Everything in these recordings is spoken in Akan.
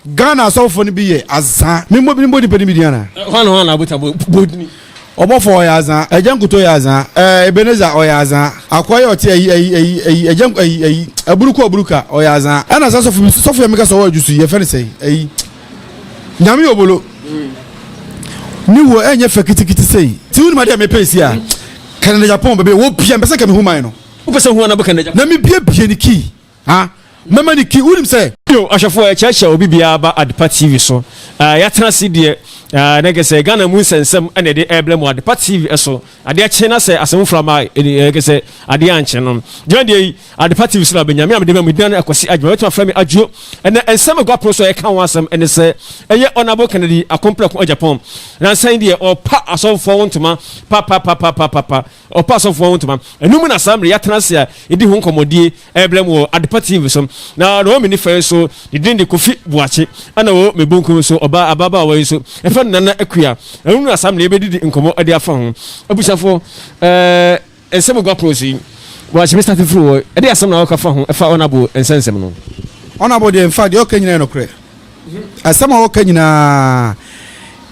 ghana asɔfo no bi yɛ azan mímú ebi bó nipa ni bi di ana. wọn wọn abuta bó bó ni. ɔbɔfo ɔyɛ azan ɛgya nkuto yɛ azan ɛɛ ebeneza ɔyɛ azan akɔyɛ ɔte ɛyi ɛyi ɛyi ɛyi ɛgya ɛyi ɛyi aburuku aburuka ɔyɛ azan ɛna sɛ sɔfo bi sɔfo yɛ mi ka sɛ ɔwɔ ɛdusu yɛ fɛn sɛ ɛyi Nyame obolo ne wuo ɛnyɛ fɛ kitikiti sei ti wonima deɛ mepɛ si a Canada Japan bɛbɛ wɔ bia mpɛ sɛ nka mehu man no wopɛ sɛ hu anabɔ Canada Japan na mebiebie ne kii ha mɛma ne kii wonim sɛ Yo, ahwɛfoɔ yɛkyerɛkyerɛ obi biara ba Adepa TV so. Ah, yɛatena ase deɛ, ah, na nka sɛ Ghana mu nsɛnsɛm na yɛde ɛrebrɛ mo Adepa TV so. Adeɛ kye na sɛ asɛm foforo aba a, ɛdi ɛyɛ sɛ adeɛ ankye no. Dwumadie yi, Adepa TV so na wobɛnya. Me a mede ma mo yi, Duane Akwasi Agyemang. Wobɛtumi afrɛ me Adwo. Ɛnnɛ, nsɛm a ɛgu apono so a yɛka ho asɛm ne sɛ, Ɛyɛ Ɔnabo Kennedy Akomprako Agyapong. Nnansa yi deɛ, wɔrepa asɔfoɔ ho ntoma papapapapaapa. Wɔrepa asɔfoɔ ho ntoma. Ɛno mu na saa mmerɛ yi yɛatena ase a yɛdi ho nkɔmmɔdie. Ɛrebrɛm wɔ Adepa TV so. Na na ɔwɔ me nifa yi nso, ne din de Kofi Boakye. Ɛna ɔwɔ me bonkum nso, ɔbaa ababaawa yi nso, yɛfrɛ no Nana Akua. Ɛno na saa mmerɛ yi yɛbɛdidi nkɔmmɔ de afa ho. Abusuafoɔ, ɛɛ nsɛm gua pono so yi, Boakye bɛstate firi hɔ. Ɛdeɛ asɛm na woka fa ho, ɛfa Ɔnabo nsɛnsɛm no ho? Ɔnabo deɛ, in fact, deɛ ɔka nyinaa yɛ nokorɛ. Asɛm a wɔka nyinaa,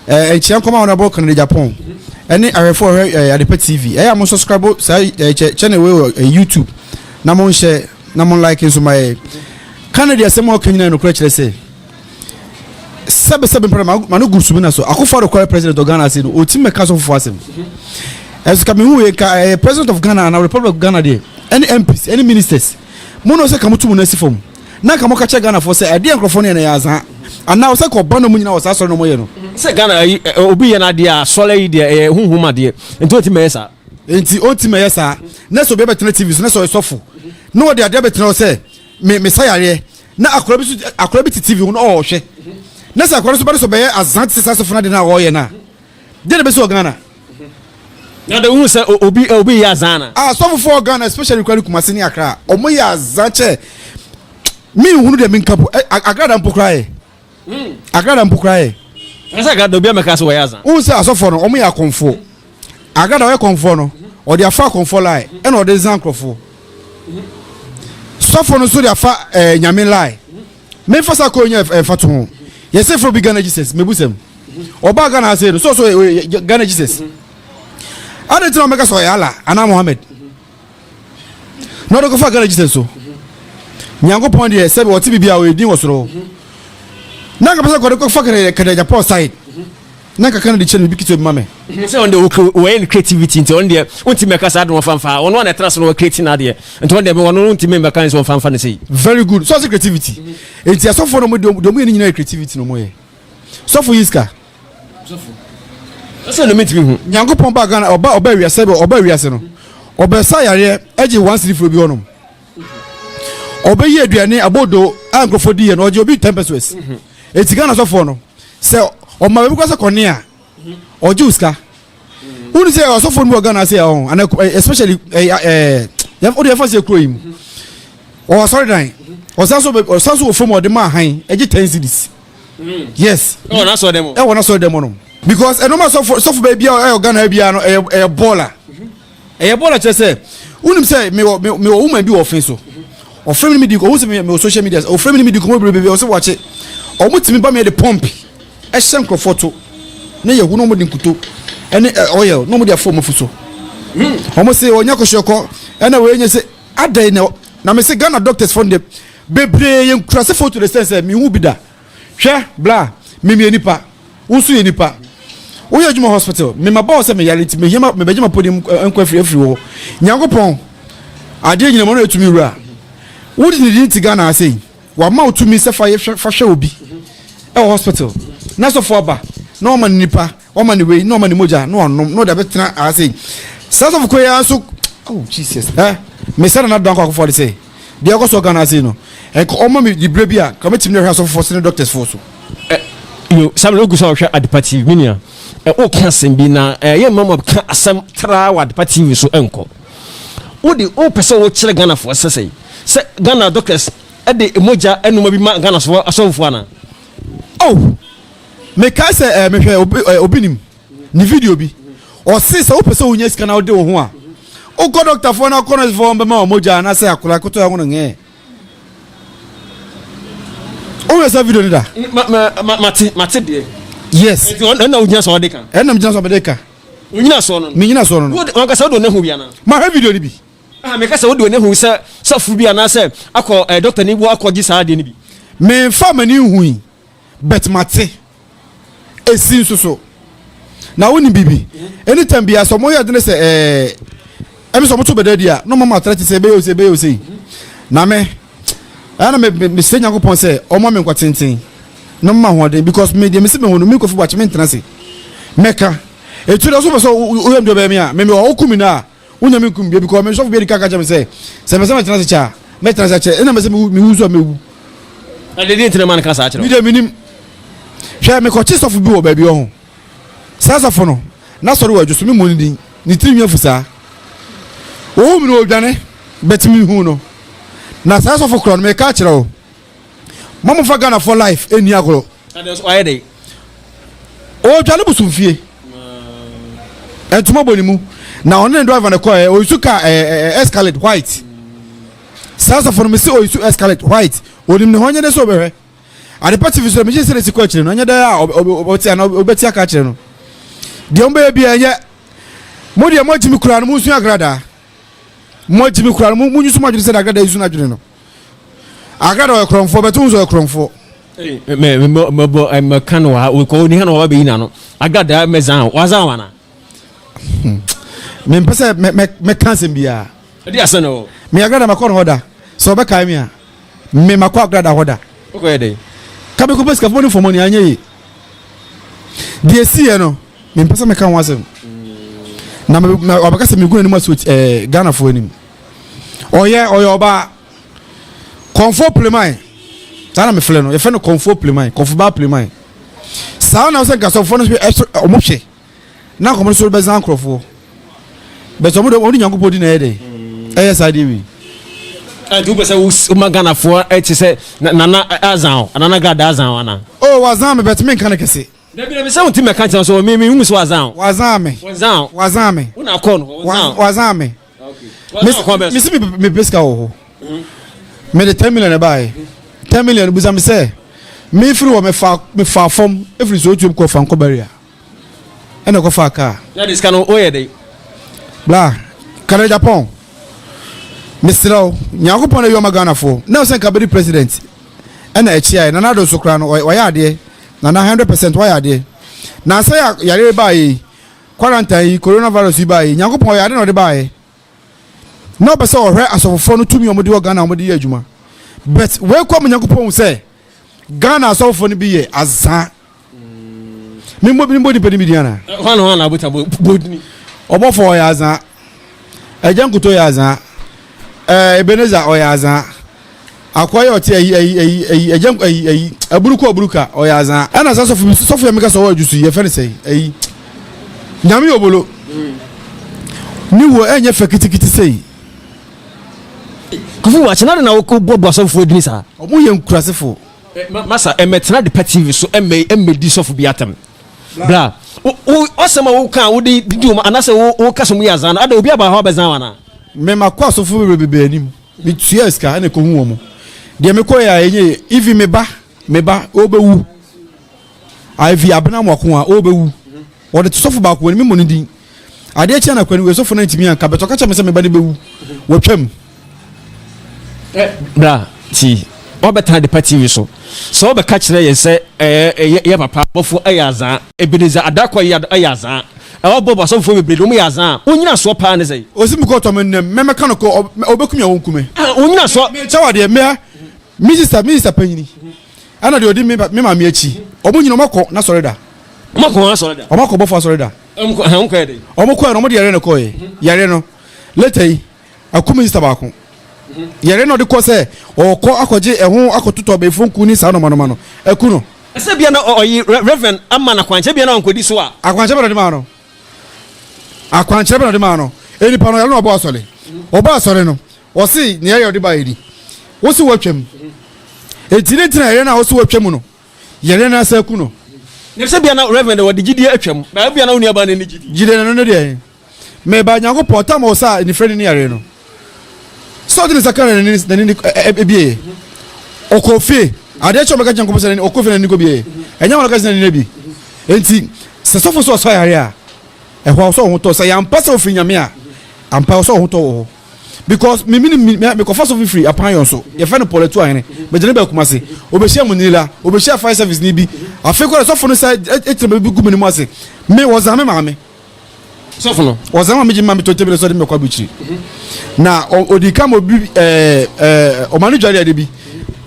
eh, nkyia nkɔm a wɔn abɔ Canada Japan, ɛne ahwɛfo a wɔhwɛ eh, Adepa TV. Ɛyɛ a mo subscribe saa eh, channel wei wɔ eh, YouTube na mo nhyɛ na mo like nso ma yɛ. Canada asɛm a wɔka nyinaa nokorɛ kyerɛ sɛ sɛbesɛbe mpɛrɛ ma no gu sumi na so akofo ado kɔɛ president of Ghana ase no ɔtumi mɛka so fofoɔ asɛm ɛso ka mehu yɛ ka ɛyɛ president of Ghana na republic of Ghana deɛ ɛne MPs ɛne ministers mo na ɔsɛ ka mo to mo no asi fam na nka mɔka kyerɛ Ghana foɔ sɛ adeɛ a nkorɔfoɔ no yɛ no ɛyɛ azaa anaa ɔsɛ kɔ ɔba na ɔmo nyinaa wɔ saa asɔre na ɔmo yɛ no. Sɛ Ghana ayi obi yɛ no adeɛ a asɔre ayi deɛ ɛyɛ huhum adeɛ nti ɔntim ɛyɛ saa. Nti ɔntim ɛyɛ saa na sɛ obi abɛtena TV so na sɛ ɔyɛ sɔfo na ɔde adeɛ abɛtena hɔ sɛ me mesa yareɛ na akora bi so akora bi te TV ho na ɔɔhwɛ na sɛ akora no so ba no sɛ ɔbɛyɛ azaa te sɛ saa sɔfo no adeɛ no a ɔɔyɛ no a deɛ na ɛbɛsi wɔ Ghana. Na de wohu sɛ obi obi yɛ azan ana. Ah sɔfo fo Ghana especially kura ne Kumasi ne Accra ɔmo yɛ azan kyɛ mi nhunu deɛ mi nka po eh, Accra da mpo kura yɛ hmm. Accra da mpo kura yɛ. Ɛsɛ Accra da obi amɛka sɛ wɔyɛ azan. Wohu sɛ asɔfo no ɔmo yɛ akɔnfo Accra da ɔyɛ kɔnfo no ɔde afa akɔnfo lai ɛna ɔde zan nkorɔfo sɔfo no so de afa ɛɛ eh, nyame lai. Memfa sa kɔ nya ɛfa to ho. Yɛ se fro bi Ghana Jesus. Mebu sɛm. Ɔba Ghana ha sei no. So so ɔyɛ Ghana Jesus. Ade nti na ɔmɛka sɛ ɔyɛ Allah anaa Mohammed. Na ɔde kɔfa Ghana Jesus so. Nyankopɔn deɛ sɛbi ɔte biribi a ɔyɛ din wɔ soro. Na nka pɛ sɛ kɔde kɔfa kɛdɛgya Paul side. Na kakra na ɔde kyɛ no biribi ketewa bi ma me. Menim sɛ ɔno deɛ okay wɔyɛ no creativity nti ɔno deɛ wontumi mmɛka saa de ɔmfa mfa ha, ɔno a na ɛtra ase na ɔre create n'adeɛ nti ɔno deɛ ɔno wontumi mmɛka ne sɛ ɔmfa mfa no sei. Very good, so ɔse creativity nti asɔfoɔ no deɛ ɔmo yɛ no nyinaa yɛ creativity na ɔmo yɛ. Sɔfo yi ska. Sɔfo. Ɔsɛ no mentumi hu. Nyankopɔn baa Ghana ɔbaa ɔbaa wiase sɛdeɛ ɔbaa wiase no ɔbɛsa yareɛ gye one cedi firi obi hɔ nom. ɔbɛyi aduane abodo a nkurɔfoɔ di yɛ no ɔgye obi ten pesos mhm. eti ghana sɔfoɔ no sɛ ɔma baabi kɔ sɛ kɔne a ɔgye wo sika mhm. wone sɛ ɔsɔfoɔ no wɔ ghana sɛ ɔho ana eh, especially eh, eh, wode yɛfa sɛ kuro yi mu mhm. ɔwɔ asɔredan ɔsan so ɔsan so wɔ fam ɔde ma ahan ɛgye ten cities mm. yes ɛwɔ n'asɔre dɛm ɛwɔ n'asɔre dɛm no because ɛnum asɔfo sɔfo baabi a ɛyɛ ghana bia no ɛyɛ ɛyɛ bɔɔla. Ɛyɛ bɔɔl a kyerɛ sɛ wonim sɛ mewɔ mewɔ woman bi wɔ ɔfen so. Ɔfrɛ me ne medi nkɔmmɔ, ɔhu sɛ mewɔ social media, ɔfrɛ me ne medi nkɔmmɔ bebrebe, ɔsɛ wakye. Wɔn tumi ba me de pump ɛhyɛ nkurɔfoɔ to na yɛhu na wɔn de nkuto ɛne oil na wɔn de afɔ wɔn afu so. Wɔn se wɔnyɛ kɔhwɛkɔ ɛna wɔyɛ nyɛ sɛ adɛn na na me se Ghana doctors fɔ no deɛ bebree yɛ nkurase foto de sɛn sɛ mehu bi da. Hwɛ, bra, me meyɛ nipa, wo nso yɛ nipa. Wo yɛ adwuma hospital, me mabɔ wo sɛ me yare nti me hia ma, me bɛgye m'apɔdi mu nkwa afiri afiri wo hɔ. Nyankopɔn, adeɛ nyinaa mu ɔno yɛ tumi wura. Wo de ne din te Ghana ha sei, wama wo tumi sɛ fa yɛ hwɛ, fa hwɛ obi ɛwɔ hospital, na sɔfo aba na wama no nipa. Wɔma no wei na wɔma no mogya na ɔnom na ɔde abɛtena aha sei. Saa sɔfo kɔ yi ara nso oh Jesus ɛ eh, mesɛ na n'adan kɔ akɔfɔ de sɛ deɛ ɛkɔ so Ghana ase no ɛnka wɔma me di berɛ bi a ka mɛtumi na ɛhwɛ asɔfofoɔ sene doctors foɔ so. Eh, yo samuel ogu sɛ ɔhwɛ adepa tv me nua woka eh, asɛm bi na ɛyɛ mma ma ka asɛm traa wɔ adepa tv so ɛnkɔ wode wopɛ sɛ wokyerɛ ghanafoɔ sɛ sɛ sɛ ghana doctors de mogya anoma bi ma ghanafoɔ asɔfofoɔ ana oh mekae sɛ eh, mehwɛ obi, eh, obi nim ne video bi ɔse sɛ wopɛ sɛ wonya sika na wode wo ho a wokɔ dɔktafoɔ no akɔ nɔsfoɔ bɛma wɔ mogya anaasɛ akora koto ɛho no ngɛɛ wohwɛ sɛ video no da mate mate deɛ yes ɛna wogyina sɛ ɔde ka ɛna megyina sɛ mede ka onyina soɔ no menyina soɔ no wankasa wode ɔne ho wiana mahwɛ video no bi ah, meka sɛ wode ɔne ho sɛ sɔfo bi anaasɛ akɔ eh, dɔkta ne wo akɔgye saa adeɛ no bi memfa m'ani nhui But mate esi nso so. Na wo ni bibi. Any time biya so mo yɛ dene sɛ eh ɛmi so mo to bɛda di a no mama atra ti sɛ bɛyɛ ose bɛyɛ ose. Na me ɛyɛ na me me sɛ nyanko pɔn sɛ ɔma me nkwa tenten. No mama ho den because me deɛ me se me ho no me kofi bɔ akyi me ntena se. Mɛka. Etu da so pɛ sɛ oyɛ mdeɛ bɛyɛ me a me me ɔkumi na a. Wonya me nkum bia because me sɔfo bia di kan ka kyerɛ me sɛ sɛ mɛsɛ mɛtena ase kyɛ a mɛtena ase akyɛ ɛna mɛsɛ mewu mewu nso a mɛwu. Na de deɛ ntina ma no ka saa kyerɛ. Mi deɛ menim hwɛ mekɔkye sɔfo bi wɔ baabi wɔ ho saa sɔfo no n'asɔre wɔ adwo so memmɔ ne din ne tiri nwi afu saa wɔhu me no wɔdwane bɛtumi hu no na saa sɔfo korɔ no meka akyerɛ wo Mamo fa Ghana fɔ life ɛnni agorɔ. Ɔredwa ne bosom fie. Ntoma bɔ ne mu. Na ɔne ne driver no kɔɛ ɔyisu car ɛɛ escalate white. Saa sɔfo no mesi ɔyisu escalate white. Onim ne ho nyɛ dɛ sɛ ɔbɛhwɛ. Adepa TV so megye sɛ ne si kɔ akyire no ɛnyɛ dɛ a ɔbɛte anaa ɔbɛte aka akyerɛ no. Deɛ ɔbɛyɛ bi ɛnyɛ. Mo deɛ mo agyimi koraa no mo nsua agradaa. Mo agyimi koraa no mo nyusu mo adwene sɛ na agradaa yisu no adwene no. akra na ɔyɛ korɔmfoɔ bɛto ho so ɔyɛ korɔmfoɔ mɛbɔ mɛka no wa kɔ oniha na waba bɛyi n'ano agada mɛzan wazan wana mempɛ sɛ mɛka asɛm biaa ɛde asɛ no me agrada makɔ no hɔ da sɛ ɔbɛkae me a me makɔ agrada hɔ da wokɔyɛ dɛn ka mekɔpɛ sikafoɔ ne fɔmɔ ne anyɛ ye deɛ siiɛ no mempɛ sɛ mɛka ho asɛm na wabɛka sɛ megu anim aso ghanafoɔ anim ɔyɛ ɔyɛ ɔbaa kɔnfo pleman saa na mefrɛ no yɛfrɛ no kɔnfo pleman kɔnfo baa pleman saa na sɛ nkasɔfoɔ no ɛso ɔmo hwɛ na nkɔmɔ no so bɛsa nkorɔfoɔ bɛsɛ ɔmo de ɔmo de nyankopɔn di na ɛyɛ dɛ ɛyɛ saa deɛ wei ɛnti wopɛ sɛ woma ghanafoɔ ɛte sɛ nana azan o nana gada azan o ana o oh, wazan me bɛtumi nka no kɛse dabi dabi sɛ wonti mɛka kyerɛ so me me hu sɛ wazan o wazan me wazan o wazan me wona kɔ no wazan me mesi mepɛ sika wɔ hɔ mede 10 million ɛbaɛ 10 million busa me sɛ mefiri hɔ mefa fam ɛfiri sɛ ɔtuam kɔfa nkɔ baria ɛna kɔfa kaa bla kana japan meserɛ wo nyankopɔn na wiɔma ghanafoɔ na sɛ nka bɛdi president ɛna ɛkyeaɛ nana ado so koraa no ɔyɛ adeɛ nana 100 percent wayɛ adeɛ na sɛ yare baayɛ Quarantine yi, coronavirus yi baeɛ yi, Nyankopɔn ɔyɛ ade na ɔde baeɛ. Na ɔpɛ sɛ ɔhwɛ asɔfofoɔ no tumi a wɔde wɔ Ghana a wɔde yɛ adwuma. But wei kɔ ama Nyankopɔn hu sɛ Ghana asɔfofoɔ no bi yɛ azaa. Memmɔ memmɔ nipa no bi din anaa? Hwan na hwan na abota bɔ bɔ din? Ɔbɔfoɔ ɔyɛ azaa. Agya Nkoto yɛ azaa. Ɛɛ Ebenezer ɔyɛ azaa. Akoa yɛ ɔte ayi ayi ayi ayi agya ayi ayi aburu kɔ aburu ka ɔyɛ azaa ɛna sɛ sɔfo bi sɔfo yɛ mi ka sɛ ɔwɔ adwusu yɛ fɛ ne sɛ ayi nyame yɛ obolo ne wuo ɛnyɛ fɛ kitikiti sei. Kofi wakye na de na wokɔ bɔ bɔ asɔfo adini saa. Ɔmo yɛ nkurasefo. Masa ɛmɛtena depa TV so ɛmɛ ɛmɛdi sɔfo bi atɛm bra wo ɔsɛm a woka a wode didi wɔn anasɛ wo woka sɛ ɔmo yɛ azaa no ada obi aba hɔ abɛzan wɔn anaa. Mema kɔ asɔfo bebrebe anim. Me tuaa sika ɛna ɛkɔ hu wɔn. Deɛ me kɔɛ a ɛnyɛ even me ba me ba ɔbɛwu. Ivy abena mwako a ɔbɛwu. Wɔde to sɔfo baako wɔn mi mmɔ ne din. Adeɛ kyɛn na kwani wɔ sɔfo na ntumi anka bɛtɔ kakyɛ me sɛ me ba ne bɛwu. Wɔtwam. Bra ti. Wɔbɛtena adepa tinwi so. Sɛ wɔbɛka kyerɛ yɛn sɛ yɛyɛ papa, abɔfo yɛ adze a, Ebenezer Adarkɔ yɛ yɛ adze a, ɛwɔ Bob asɔfofoɔ bebree deɛ wɔyɛ adze a, wɔn nnyinasoɔ paa ne sɛn? Ɔse mekɔ tɔ me nnɛ mɛ mɛka no kɔ ɔ ɔbɛku me a ɔnku me. Ah wɔn nnyinasoɔ. Me kyɛw adeɛ mɛ me sista me sista panyini ɛna deɛ ɔdi me maame akyi wɔn nyina wɔn akɔ na sɔre da. Wɔn akɔ wɔn asɔre da. Wɔn akɔ bɔfo asɔre da. Wɔn kɔ ɛhɛn wɔn kɔ yɛ dɛn? Wɔn kɔɛ no wɔn de yareɛ na ɛkɔɔɛ yareɛ no later yi Aku minista baako. Yɛre na ɔde kɔ sɛ ɔrekɔ akɔgye ɛho akɔtotɔ abayifo nku ne saa nɔmanɔma no. Aku no. Sɛ bia na ɔyi Rev. ama no akwankyerɛ bia na wankɔdi so a. Akwankyerɛ bɛn na ɔde maa no? Akwankyerɛ bɛn na ɔde maa no? Enipa no yɛre na ɔbɔ asɔre. Ɔbɔ asɔre no, ɔse nea ɛyɛ ɔde baeɛ ni. Wose watwam. Enti ne ntina yɛre no a wose watwam no, yɛre no asa aku no. Sɛ bia na Rev. ɔde gyidie atwam, na bia na wo nuabaa no nni gyidie. Gyidie no ne deɛn? Meba, Nyankopɔn, tam wɔ saa anifere no ne yareɛ no. Sɛ ɔde ne nsa ka na n'ani n'ani ne ebieɛ. Ɔkɔ fie. Adeɛ kyɛ ɔbɛka kyerɛ Nyankopɔn sɛ n'ani ɔkɔ fie na n'ani kɔ bieɛ. Ɛnyɛ wɔn ɔka sɛ n'ani na bi. Enti sɛ sɔfo sɛ ɔsɔ yareɛ a, ɛhɔ a ɔsɔ ɔho tɔ. Sɛ yɛ ampa sɛ ɔfiri Nyame a, ampa ɔsɔ ɔho tɔ wɔ hɔ. Because me mini me me kɔfa sɔfo firi apan yɔn so. Yɛfɛ no Paul Atuahene. Megyina bɛ Kumasi. Obehyia mu nila, obehyia fire service ni bi. Afei kora sɔfo no sɛ ɛtena bɛ bi gu me ne mu ase. Me wɔza me maame. sɔfo no ɔsan ma megye ma metɔ tebele sɛ ɔde mɛkɔ aburukyiri na ɔdi ka ma obi ɛɛ ɛɛ ɔma no dware ade bi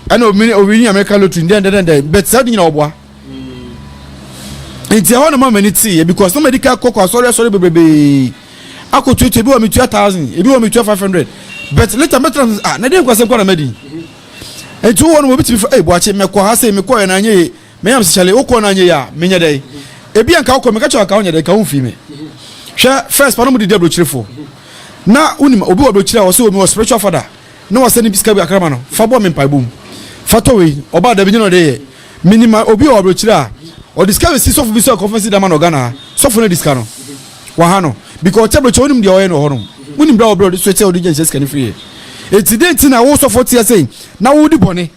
ɛna omi owi ni amerika lotiri dɛn dɛn dɛn bɛt saa ɔde nyina ɔboa nti ɛhɔ na ma m'ani tee yɛ because na mɛdi ka kɔkɔ asɔre asɔre bebrebe akɔtuatua ebi wɔ metua thousand ebi wɔ metua five hundred bɛt later mɛtena sɛ ah na deɛ nkwasɛm kɔ na mɛdi nti wɔ no wɔbɛtumi fa ɛyi bɔakye mɛkɔ ha sɛ mekɔɛ na anyɛ ye Miriam se, Charlie, wokɔɔ no anyɛ yi a, menyɛ dɛn? Ebia nka wokɔ, meka kyerɛ wo anka wonyɛ dɛn, nka womfii me. Hwɛ, first, panom de di aburokyirefoɔ. Na, wonim, obi wɔ aburokyire a, wɔse, o, mewɔ spiritual father, na wɔsɛ ne sika bi kakra ma no, fa bɔ me mpaebɔ mu. Fa tɔ wei. Ɔbaa, dabi, nyɛ na ɔde yɛ. Menim obi wɔ aburokyire a, ɔde sika bɛsi sɔfo bi so a conference leader ma no wɔ Ghana ha. Sɔfo no adi sika no. Waha no. Because ɔte aburokyire, wonim deɛ ɔyɛ no wɔ hɔnom. Wonim berɛ a ɔbrɛ ɔde soɛ sɛ ɔde gya nhyɛ sika no firi yɛ. Enti, dɛn nti na wo sɔfo teɛ sei, na wodi bɔne?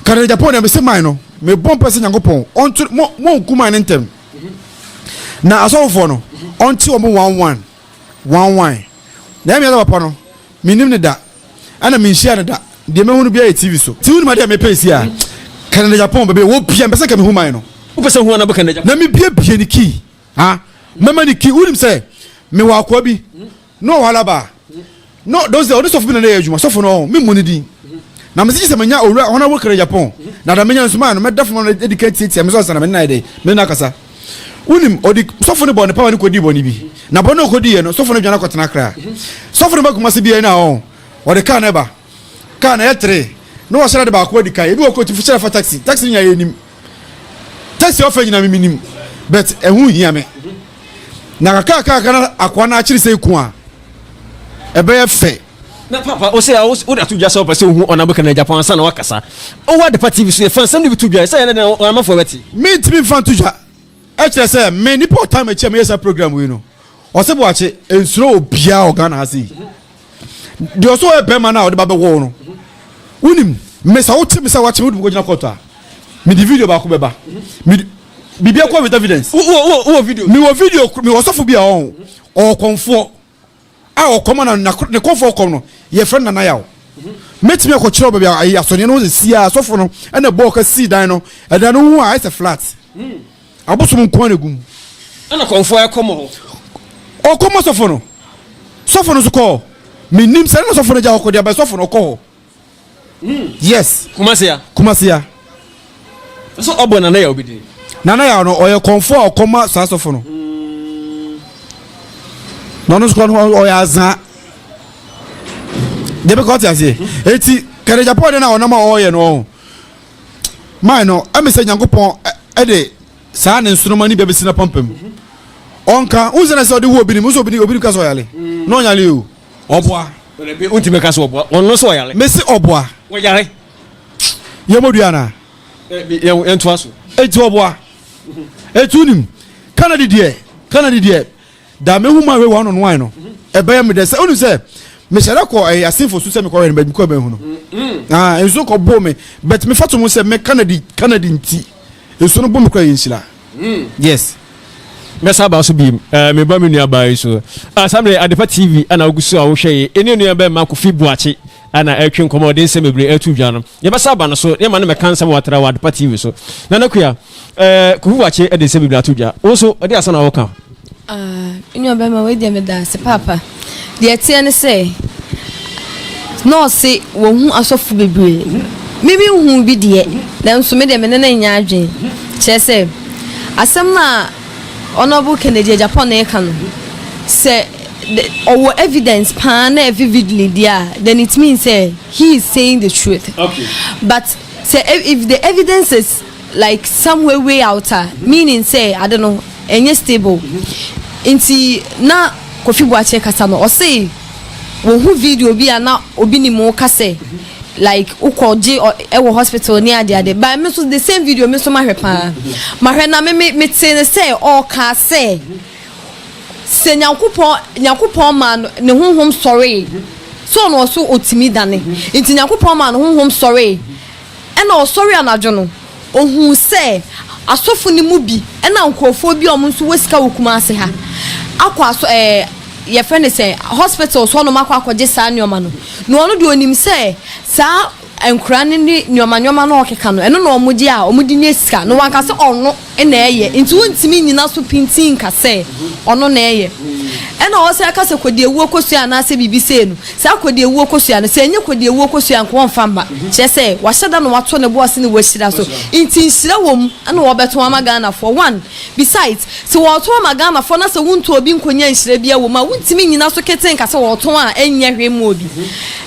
kane japo na mese man no mebɔ mpɛ sɛ nyankopɔn ɔnto mo mo nku man no ntɛm na asɔfofoɔ no ɔnte wɔn mo wan wan wan wan na ɛmi ɛsɛ papa no menim ne da ɛna menhyia ne da deɛ mɛhu no biara yɛ tv so ti wonim adeɛ a mepɛ si a kanada japan bɛbɛ wɔ bia mpɛ sɛ nka mehu man no wopɛ sɛ hu anabɔ kanada japan na mebiebie ne kii ha mɛma ne kii wonim sɛ mewɔ akoa bi No wahala ba no don sɛ ɔne sɔfo bi na na yɛ adwuma sɔfo no ɔho memmɔ ne din na mese gye sɛ manya owura hɔn a wokura japan na da menya nsumaa no mɛda fama no adi ka tiatia me so ansa na mene no ayɛ dɛ mene no akasa wonim ɔde sɔfo no bɔ ne pawa ne kɔdii bɔne bi na bɔne ɔkɔdiiɛ no sɔfo no dwane akɔtena akra sɔfo no ba kuma se biara no a ɔho ɔde kaa no ɛba kaa no ɛyɛ tere na wɔhyɛra de baako adi kan ebi wɔ kɔ ɔtumi hyɛra fa taxi taxi no nya yɛ anim tɛsi ɔfɛ nyina me menim but ɛho hia me na kakrakaka na akoa no akyere sɛ ku a ɛbɛyɛ fɛ na papa wosɛ wode ato dwa sɛ wopɛ sɛ wohu ɔnabo kana japan ansa na woakasa wowɔ adepa tv so yɛfa nsɛm no bi to dwa sɛ ɛnɛ ɔnamafoɔ bɛte mentumi mfa nto dwa ɛkyerɛ sɛ me nipa ɔtam akyi a meyɛ saa program wei no ɔsɛ boakye ɛnsuro obiaa ɔghana ha sei deɛ ɔsɛ ɔyɛ bɛrima no a ɔde ba bɛwɔ wo no wonim mesa wote me sɛ wakye me wode mekɔgyina kɔɔto a mede video baako bɛba mede biribi akɔ with evidence wowɔ video mewɔ video mewɔ sɔfo bi a ɔho ɔkɔmfoɔ a ɔkɔm ana ne kɔmfoɔ kɔm no yɛfrɛ no nanaya o mɛtumi akɔkyerɛ baabi a asɔneɛ no sɛsi a sɔfo no ɛna bɔɔ ka sii dan no ɛdan no ho a ɛsɛ flat hmm. Abosom nko ara na egu mu. Ɛna kɔmfo a ɛkɔ mɔ. Ɔkɔ mɔ sɔfo no. Sɔfo no nso kɔ hɔ. Menim sɛ ɛna sɔfo no gya hɔ kɔ deɛ bɛ sɔfo no ɔkɔ hɔ. Hmm. Yes. Kumasia. Kumasia. Ɛsɛ ɔbɔ nana yɛ obi din. Nana yɛ no ɔyɛ kɔmfo a ɔkɔ ma saa sɔfo no. Hmm. Na ɔno nso kɔ no ɔyɛ azaa. Deɛ bɛ kɔ ɔte aseɛ. Hmm. Eti kɛrɛ Japan na ɔnam a ɔyɛ no ɔho. mae no, ɛme sɛ Nyankopɔn de saa ne nsoroma ne bia bɛsi no apampam. Ɔnka, wohu sɛ na sɛ ɔde wo obi nim, wo sɛ obi obi ka sɛ ɔyale. Na ɔnyale o. Ɔboa. Wontumi ka sɛ ɔboa. Ɔno sɛ ɔyale. Mese ɔboa. Ɔyare. Yɛmɔdua anaa? Yɛntoa so. Enti ɔboa. Ɛtu nim. Kanadi deɛ, Kanadi deɛ, Da me nwoma wei wɔ ano noae no, ɛbɛyɛ me dɛ sɛ wonu sɛ mehyɛ dɛ kɔ ɛyɛ asenfo so sɛ mekɔ wɛn bɛbi kɔ bɛn ho no. Ah, nso kɔ bo me, but me fato mu sɛ me Canada Canada nti, nso no bo me kura yɛ nhyira. Yes. Mɛsa aba so biem. Eh, me ba me nua baa yi so. Ah, Samre Adepa TV ana ogu so a wohwɛ yi. Ene nua bɛma Kofi Boakye. a na ɛretwe nkɔmmɔdensɛm bebree ato dwa no, yɛbɛsa aba no so na yɛma no mmɛka nsɛm a watra wɔ Adepa TV so. Nana Kua, eh, Kofi Boakye de nsɛm bebree ato dwa. Wo nso, ɛde asɛm na wɔka. Ah, nua bɛma wei deɛ meda ase paapa. Deɛ ɛteɛ ne sɛ, na ɔse wɔhu asɔfo bebree. Me me hu bi deɛ, nanso me deɛ me ne no nyɛ adwene. Kyerɛ sɛ, asɛm no a Honorable Kennedy Agyapong na ɛka no, sɛ the ɔwɔ evidence paa na ɛfi vividly deɛ a then it means sɛ he is saying the truth okay. but sɛ e, if the evidence is like some way way out a mm-hmm. meaning sɛ ade no ɛnyɛ stable mm-hmm. nti na kofi buakye kasa no ɔse wɔn ho video bi a na obi ni mu kasɛ. Mm-hmm like wokɔ gye ɛwɔ hospital ne ade ade but me nso the same video me nso mahwɛ paa mahwɛ na me me me te ne sɛ ɔɔka sɛ. sɛ Nyankopɔn, Nyankopɔn maa no ne honhom sɔree, sɛ ɔno ɔso otumi dane, nti Nyankopɔn maa no honhom sɔree, ɛna ɔsɔre anadwo no, ohuu sɛ asɔfo no mu bi ɛna nkorɔfoɔ bi a ɔmo nso wɔ sika wɔ Kumasi ha akɔ asɔ ɛɛ eh, yɛfrɛ no sɛ hospital so ɔnom akɔ akɔgye saa nneɛma no, na ɔno deɛ onim sɛ saa Nkora no ne nnoɔma nnoɔma no a ɔkeka no ɛno na ɔmo gye a ɔmo de nya sika na wanka sɛ ɔno na ɛyɛ nti wontumi nnyina so pintinn nka sɛ ɔno na ɛyɛ ɛna ɔwɔ sɛ ɛka sɛ kodiawuo kosua anaasɛ biribi sei no saa kodiawuo kosua no sɛ ɛnyɛ kodiawuo kosua nka ɔmfa mma kyerɛ sɛ wahyɛ da na wato ne bo ase na wahyira so nti nhyira wɔ mu ɛna wɔbɛto ama Ghanafoɔ one Besides, sɛ wɔɔtɔn ama Ghanafoɔ na sɛ wontu obi nkonya nhyira biaa wɔ mu a, wontumi nnyina so ketee nka sɛ wɔɔtɔn a ɛnnyɛ hwee mma obi.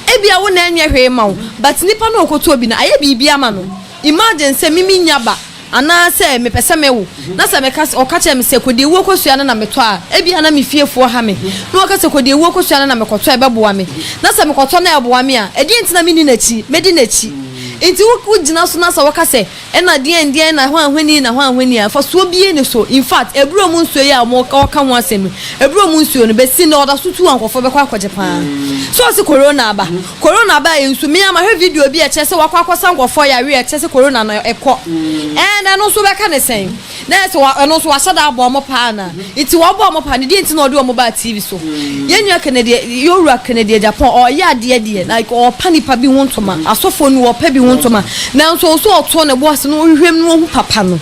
Ebia wo na ɛnnyɛ hwee mma wo, but nipa no a ɔɔkɔtɔ bi no, ayɛ biribi ama no. Imagine sɛ me mennya ba anaa sɛ mepɛ sɛ me wo na sɛ meka sɛ, ɔka kyerɛ me sɛ kɔdi awuo kosua no na metɔ a, ebia na me fiefoɔ ha me na wɔka sɛ kɔdi awuo kosua no na mekɔtɔ a ɛbɛboa me. Na sɛ mekɔtɔ no a ɛboa me a, ɛdeɛn nti na menni n'akyi? Mɛdi n'akyi. Nti wo gyina so na sɛ wɔka sɛ, Nna deɛn deɛn na hwanhwani na hwanhwani a mfasoɔ biara nni so. In fact, abura mu nsuo yi a wɔka ho asɛm yi, abura mu nsuo no, bɛsi nnɛ ɔda so tu a nkurɔfoɔ bɛkɔ akɔgye pa ara. So ɔse Corona aba? Corona aba yɛ nsu. Me ara mahwɛ video bi a ɛkyerɛ sɛ wɔakɔ akɔsa nkurɔfoɔ yareɛ a ɛkyerɛ sɛ Corona no ɛkɔ. And ɛno nso wobɛka no sɛn? Na ɛsɛ sɛ ɛno nso wɔahyɛ da abɔ wɔn paa anaa? Nti wɔbɔ wɔn paa no, deɛ nti na wɔde wɔn baa TV so. Yɛn nua Kennedy, Yowura Kennedy Agyapong, ɔyɛ adeɛ deɛ, like ɔrepa nnipa bi ho ntoma. Asɔfoɔ no, wɔrepa bi ho ntoma. Nanso ɔwɔ sɛ ɔto ne bo ase na ɔhwehwɛ mu na ɔhu papa no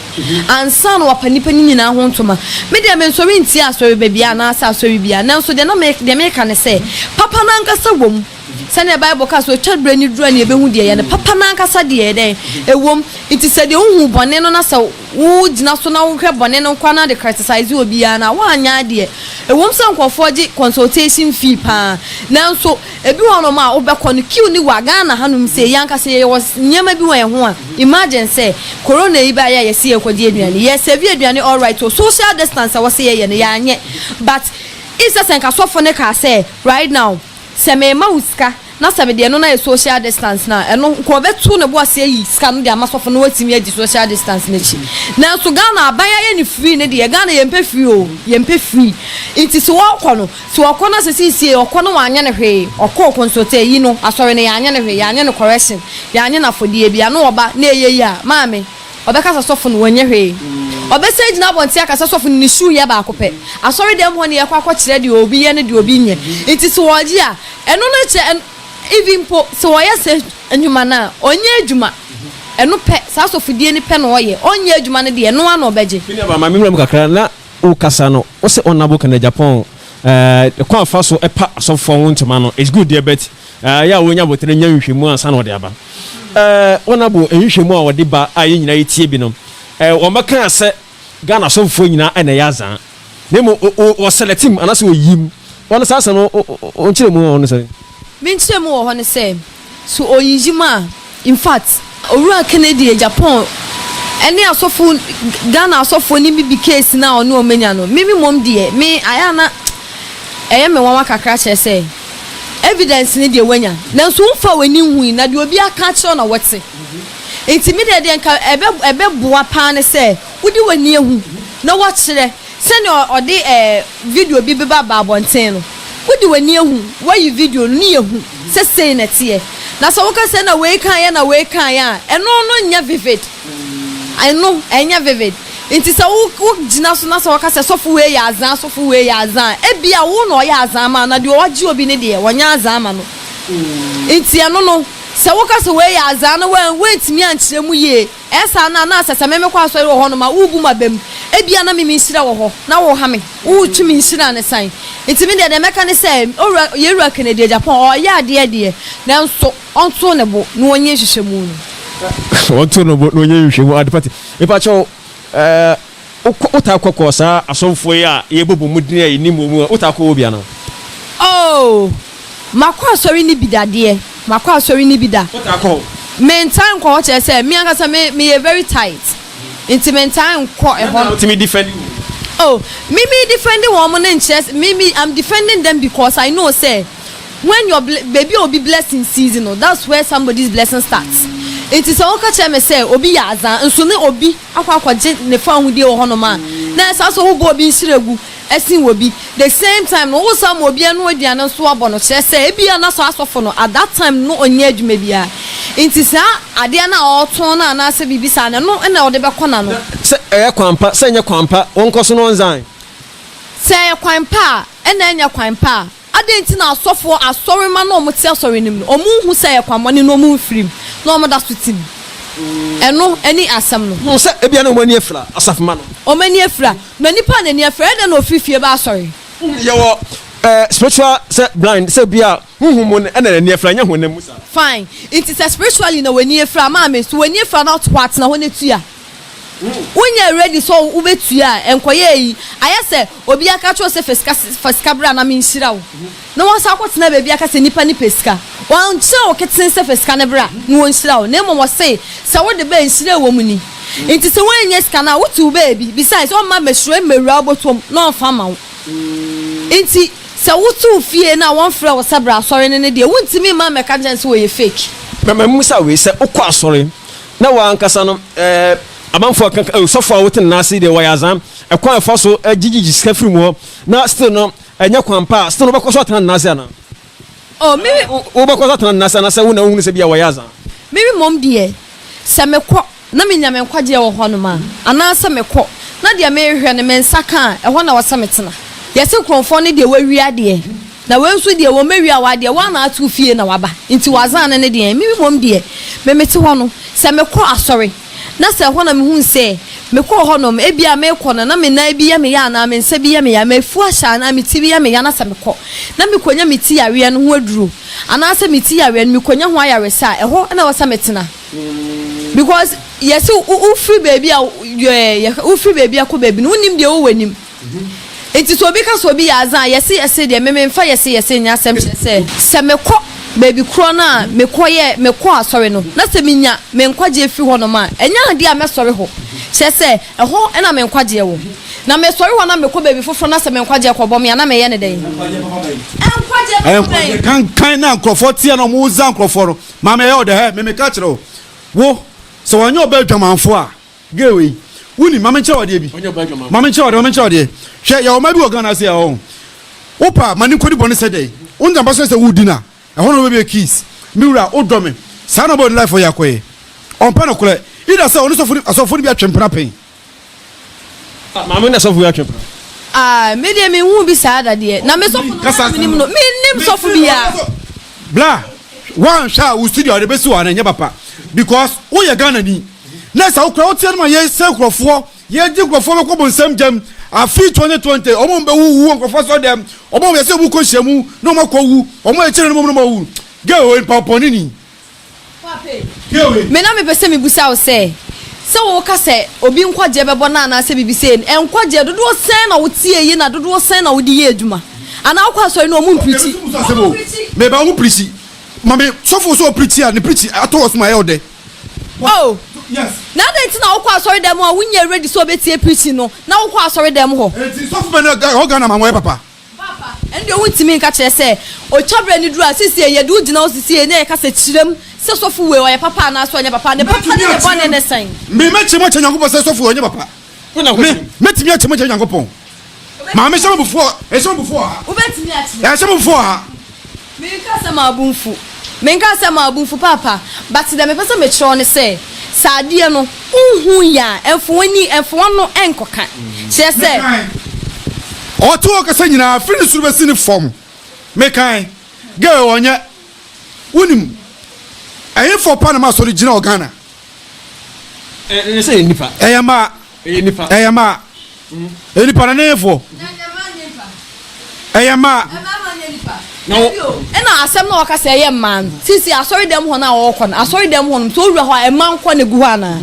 ansa na wapa nnipa no nyinaa ho ntoma. Me deɛ, mensɔre ntia asɔreba biara anaasɛ asɔre biara. Nanso deɛ na me, deɛ meka ne sɛ, papa no ankasa wɔ mu. Sɛnea Bible ka sɛ otwa bere no duru a na yebehu deɛ ɛyɛ no papa no ankasa deɛ ɛyɛ dɛn? Ɛwom, enti sɛ deɛ wuhu bɔne no na sɛ wugyina so na wohwɛ bɔne no nkoa na wode criticize obi a, na woanyɛ adeɛ. Ɛwom sɛ nkurɔfoɔ gye consultation fee paa, nanso ebi wɔ hɔnom a wobɛkɔ no queue no wa. Ghana hanom sei, yɛn ankasa yɛwɔ nneɛma bi wɔ yɛn ho a, imagine sɛ Corona yi baeɛ a yɛse yɛrekɔgye aduane, yɛ serve aduane alright o, social distance a wɔse yɛyɛ no yɛanyɛ, but issɛ sɛ nka sɔfo no kaa sɛ right now, Sɛ mema wo sika na sɛ mede ɛno no ayɛ social distance no a, ɛno nka ɔbɛto ne bo ase ayi sika no de ama sɔfo no na watumi adi social distance no akyi. Nanso Ghana aban ayɛ no free ne deɛ, Ghana yɛmpɛ free o, yɛmpɛ free. Nti sɛ ɔɔkɔ no, sɛ ɔkɔ na sɛ seisei ɔkɔ na wanyɛ no hwee, ɔkɔɔ consulta ayi no, asɔre no yɛanyɛ no hwee, yɛanyɛ no correction, yɛanyɛ no afɔdeɛ biara na ɔba na ɛyɛ yie a, maame, Ɔbɛka sɛ sɔfo no, wɔnyɛ hwee. Ɔbɛsan agyina abɔnten aka sɛ sɔfo no ne shoe yɛ baako pɛ. Asɔredɛm hɔ na yɛkɔ akɔkyerɛ deɛ obi yɛ ne deɛ obi nyɛ. Nti sɛ ɔgye a, ɛno no kyerɛ ɛn even mpo sɛ ɔyɛ saa nnwuma no a, ɔnyɛ adwuma. Ɛno pɛ, saa asɔfodie no pɛ na ɔyɛ. Ɔnyɛ adwuma no deɛ, ɛno ara na ɔbɛgye. Me nuabaa, ma me nwura mu kakra. Na wo kasa no, wo se ɔnnabo kɛnɛ Japan, eh, kwan a fa so pa asɔfoɔ ho ntoma no, it's good deɛ but, Ɛyɛ a onya botere nya nhwehwɛmu ansa na ɔde aba. Wɔabo nhwehwɛmu a wɔde ba a yɛn nyinaa yɛtie bi no, wɔmmɛkaa sɛ Ghana asɔfofoɔ nyinaa na ɛyɛ adza, na mmom wɔsɛlɛte mu anaasɛ wɔyi mu. Wɔn saa asɛm no, wo nkyerɛmu wɔ hɔ ne sɛn? Me nkyerɛmu wɔ hɔ ne sɛ, so wɔyiyi mu a, In fact, Owura Kennedy yɛ Japan ne asɔfo, Ghana asɔfoɔ no bi case no a ɔne wɔn anya no, me me mmom deɛ, me ayɛ a na ɛyɛ me nwanwa kakra kyerɛ sɛ, evidence no deɛ wanya, nanso womfaa w'ani nhui, na deɛ obi aka akyerɛ wo na wote. Nti me deɛ deɛ nka ɛbɛ ɛbɛboa paa ne sɛ wode w'ani ahu na woakyerɛ Sɛnea ɔde video bi beba aba abɔnten no, wode w'ani ahu, woayi video no, ne yɛ hu sɛ sei na ɛteɛ. Na sɛ woka sɛ na wei kaeɛ na wei kaeɛ a, ɛno no nyɛ vivid. Ɛno, ɛnyɛ vivid. Nti sɛ wo, wo gyina so na sɛ wɔka sɛ sɔfo wei yɛ azaa, sɔfo wei yɛ azaa a, ebia wo na ɔyɛ azaa ma wo, na deɛ ɔagye obi no deɛ, wɔnyɛ azaa ma no. Nti ɛno no, sɛ woka sɛ wei yɛ azaa na woan, woantumi ankyerɛ mu yie, Saa no a, na ɛsɛ sɛ me mekɔ asɔre wɔ hɔ no ma wobu m'aba mu. Ebia na me me nhyira wɔ hɔ, na woha me, woretwe me nhyira no san. Enti me deɛ, deɛ mɛka ne sɛ, Owura, yɛn Wura Kennedy Agyapong, ɔreyɛ adeɛ deɛ, nanso ɔnto ne bo na ɔnyɛ nhwehwɛmu no. Ɔnto ne bo na ɔnyɛ nhwehwɛmu, adepa te. Mepakyɛw, Wokɔ, wotaa kɔ kɔ saa asɔmfoɔ yi a yɛbɔ bɔ mu din a yɛnnim wɔn mu a, wotaa kɔ hɔ bi anaa? Oo, makɔ asɔre no bi da deɛ, makɔ asɔre no bi da. Wotaa kɔ hɔ? Mentaa nkɔ hɔ, kyerɛ sɛ, me ankasa me, meyɛ very tight, nti mentaa nkɔ ɛhɔ. Ɛnna wotumi defɛndi wɔn? Oh, me me defɛndi wɔn no nkyerɛ sɛ, me me, I'm defending them because I know sɛ, when your ble, baabi a obi blessing cease no, that's where somebody's blessing starts. Nti sɛ woka kyerɛ me sɛ obi yɛ adzaa, nso ne obi. akɔ akɔgye ne fawohodie wɔ hɔnom a, na ɛsɛ sɛ wobɔ obi nhyira gu ɛsen wɔ bi. The same time no, wo san ma obi ɛno aduane nso abɔ no, kyerɛ sɛ ebia na saa sɔfo no at that time no ɔnyɛ adwuma biara nti saa adeɛ no a ɔretɔn no anaa sɛ biribi saa no ɛno na ɔde bɛkɔ n'ano. Sɛ ɛyɛ kwan pa, sɛ ɛnyɛ kwan pa, wɔnkɔ so na wɔnsan. Sɛ ɛyɛ kwan pa a, ɛna ɛnyɛ kwan pa a. Adɛn nti na asɔfoɔ, asɔremma no a wɔte asɔre no mu no, wɔnhu sɛ ɛyɛ kwammɔne na wɔmfiri mu, na wɔda so te mu? Ɛno ne asɛm no. Hu sɛ ebia na wɔn ani afira, asafomma no. Wɔn ani afira. Na nipa a n'ani afira, ɛyɛ dɛn na ɔfiri fie ba asɔre? Yɛwɔ eh, spiritual sɛ blind, sɛ bi a honhom mu no ɛna n'ani afira, ɛnyɛ honam mu saa. Fine. Nti sɛ spiritually na w'ani afira, maame, so w'ani afira na wote hɔ a, tena hɔ na tua. Wonyɛ ready sɛ wobɛtua a, nkɔyɛ eyi. Ayɛ sɛ obi aka akyerɛ wo sɛ fa sika fa sika bra na menhyira wo, na woasan akɔtena baabi aka sɛ nnipa no pɛ sika. Wɔankyerɛ wo ketee sɛ fa sika no bra na wɔnhyira wo, na mmom wɔse sɛ wode ba a nhyira a ɛwɔ mu ni. Enti sɛ woannya sika no a, wote wo baabi. Besides, ɔmma mmahyira mmawura bɔtɔm na ɔmfa mma wo. Enti sɛ wote wo fie na wɔmfrɛ wo sɛ bra asɔre no ne deɛ, wontumi mma mmɛka nkyerɛ no sɛ wɔyɛ fake. Na mammisa wei sɛ wokɔ asɔre? Na wo ankasa no ɛɛ amanfoɔ ɛka ka ɛɛ sɔfoɔ a wote ne nan ase yi deɛ wɔyɛ azaa ɛkwan a ɛfa so gyegyegye sika firi mu hɔ na still no ɛnyɛ kwan pa a still no wobɛkɔ so atena ne nan ase anaa? Oh me wo wobɛkɔ so atena ne nan ase anaasɛ wo na wohunu sɛ bi a wɔyɛ azaa? Me mmom deɛ sɛ mekɔ na menya me nkwagyeɛ wɔ hɔnom a anaasɛ mekɔ na deɛ merehwɛ no me nsa ka a ɛhɔ na wɔsɛ metena. Yɛse Kronfoɔ no deɛ wawie adeɛ Na wei nso deɛ, wɔmmɛwia wo adeɛ, wo ara na woate wo fie na woaba, enti w'azan no ne deɛn? Me mmom deɛ, me mete hɔ no, sɛ mekɔ asɔre, na sɛ ɛhɔ na mehunu sɛ mekɔɔ hɔnom, ebia merekɔ no, na me nan bi yɛ me ya anaa me nsa bi yɛ me ya, m'afu ahyɛ anaa me ti bi yɛ me ya, na sɛ mekɔ, na mekɔnya me ti yareɛ no ho aduro, anaasɛ me ti yareɛ no mekɔnya ho ayaresa a, ɛhɔ na ɛwɔ sɛ metena. Because yɛse wofiri baabi a, yɛhwɛ, wofiri baabi a kɔ baabi no, wonnim deɛ ɛwɔ w'anim. Enti sɛ obi ka sɛ obi yɛ adze a, yɛse yɛse deɛ, me memfa yɛse yɛse nyɛ asɛm, kyerɛ sɛ, sɛ mekɔ baabi korɔ no a mekɔyɛɛ, mekɔɔ asɔre no, na sɛ menya me nkwagyeɛ firi hɔnom a, ɛnyɛ adeɛ a mɛsɔre hɔ, kyerɛ sɛ, ɛhɔ na me nkwagyeɛ wɔ, na mesɔre hɔ na mekɔ baabi foforɔ na sɛ me nkwagyeɛ kɔbɔ me a, na meyɛ no dɛn? Nkwagyeɛ bɛbɔ dɛn? Nkwagyeɛ kankan na nkurɔfoɔ teɛ na wɔdza nkurɔfoɔ no, maame ɛyɛ wo dɛ, hɛ, memeka kyerɛ wo, wo, sɛ wɔnyɛ ɔbɛ adwamanfoɔ a, Gay wei woni ma menkyerɛ wadeɛ bi ma menkyerɛ wadeɛ ma menkyerɛ wadeɛ hwɛ yɛwɔ ma bi wɔ Ghana ase a ɔho wopa ma ne nkɔdi bɔne sɛ dɛn wonta mpa so sɛ wodi no a ɛhɔ na wobɛbɛ kiss me wura wodɔ me saa na ɔbɛwɔ ne life ɔyɛ akɔyɛ ɔmpɛ no korɛ ida sɛ ɔne sɔfo asɔfo no bi atwe mpena pɛn ah, maame na sɔfo bi atwe mpena ah, me deɛ menhu bi saa da deɛ na me sɔfo no na menim no menim sɔfo biaa bla woanhwɛ a wo studio a wode bɛsi wɔ ana ɛnyɛ papa because woyɛ Ghana ni na sɛ wokora woteɛ no ma yɛsɛ nkurɔfoɔ yɛgye nkurɔfoɔ bɛkɔ bonsam gyam afe 2020 ɔmo bɛwuwu wɔ nkurɔfoɔ sɔ dɛm ɔmo yɛsɛ ɔmo kɔ hyia mu na ɔmo akɔ wu ɔmo akyire no mom no ma wu gɛ wɔ nipa pɔne ni me na mepɛ sɛ mebusa wo sɛ sɛ woka sɛ obi nkwagyeɛ bɛbɔ no anaasɛ biribi sɛ nkwagyeɛ dodoɔ sɛn na wotie yi na dodoɔ sɛn na wode yɛ adwuma anaa wokɔ asɔre no ɔmo mpirikyi meba ɔmo pirikyi ma me sɔfo sɛ ɔpirikyi a ne pirikyi atɔ wɔ so ma ɛyɛ ɔdɛ Oh, na adɛn nti na wokɔ asɔre dɛm a wonyɛ ready sɛ ɔbɛtie preaching no na wokɔ asɔre dɛm hɔ. Eti sɔfo bɛ na ɛwɔ Ghana ma wɔyɛ papa. Papa, ɛnde ɔho ntumi nka kyerɛ sɛ ɔtwa berɛ no duru a sesie yɛde wo gyina hɔ sesie na yɛka sɛ kyerɛm sɛ sɔfo wei ɔyɛ papa anaasɛ ɔnyɛ papa ne papa ne ne bɔne ne sɛn. Mɛkyerɛ mu akyerɛ Nyankopɔn sɛ sɔfo wei ɔnyɛ papa. Me, mɛtumi ate mogya Nyankopɔn. Maame hyɛ m'abufuo ɔha. Ɛhyɛ m'abufuo ɔha. Wobɛtumi ate. Ɛhyɛ m'abufuo ɔha. Menka sɛ mabu mfu. Menka sɛ mabu mfu paapa. But deɛ mepɛ sɛ mekyerɛ wo ne sɛ, sɛ adeɛ no, wonhu yɛ a, ɛmfa w'ani, ɛmfa w'ano nkɔka. Kyerɛ sɛ. Mekan. Ɔte ɔkasa nyinaa, firi ne soro bɛsi ne fam. Mekan. Girl, ɔnyɛ. Wonim, ɛhefoɔ pa na m'asɔre gyina wɔ Ghana? Ɛyɛ sɛ yɛ nipa. Ɛyɛ ma. Ɛyɛ nipa. Ɛyɛ ma. Ɛyɛ nipa na ne fo. Ɛyɛ ma. Na wo. Ɛna asɛm na wɔka sɛ ɛyɛ mmaa no sisi asɔre dɛm hɔ no a wɔkɔ no asɔre dɛm hɔ no so owura hɔ a ɛma nkɔ na egu hɔ anaa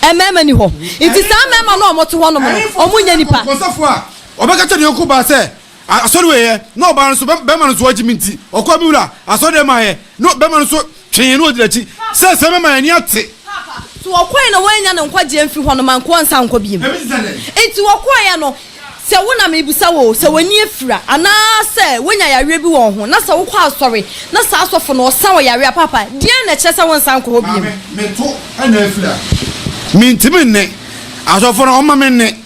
ɛmɛɛma ni hɔ nti saa mɛɛma na wɔn te hɔ nom no wɔn nyɛ nipa. Kɔnsɛfo a ɔbɛka kyɛ ne yɔnko baa sɛ. Asɔre wei ɛ, na ɔbaa no nso bɛ, bɛrima no nso wagye me nti, ɔkɔɔ me wura asɔre dɛm ayɛ, na bɛrima no nso twee na ɔdi n'akyi, sɛ sɛ mɛma yɛn ani ate. Papa, so ɔkɔɔɛ na wannya no nkwagyeɛ mfiri hɔ no ma nkoa nsan nkɔ biem? Ɛbi te sɛ dɛn? Enti wɔkɔɔɛ no, sɛ wo na merebisa wo o, sɛ w'ani afira, anaa sɛ woanya yareɛ bi wɔ wo ho, na sɛ wokɔ asɔre, na saa asɔfo no ɔsa wo yareɛ a, papa, deɛn na ɛkyerɛ sɛ wonsan nkɔ hɔ biem? Maame, me to na afira. Mentumi nne. Asɔfo no, ɔmma me nne.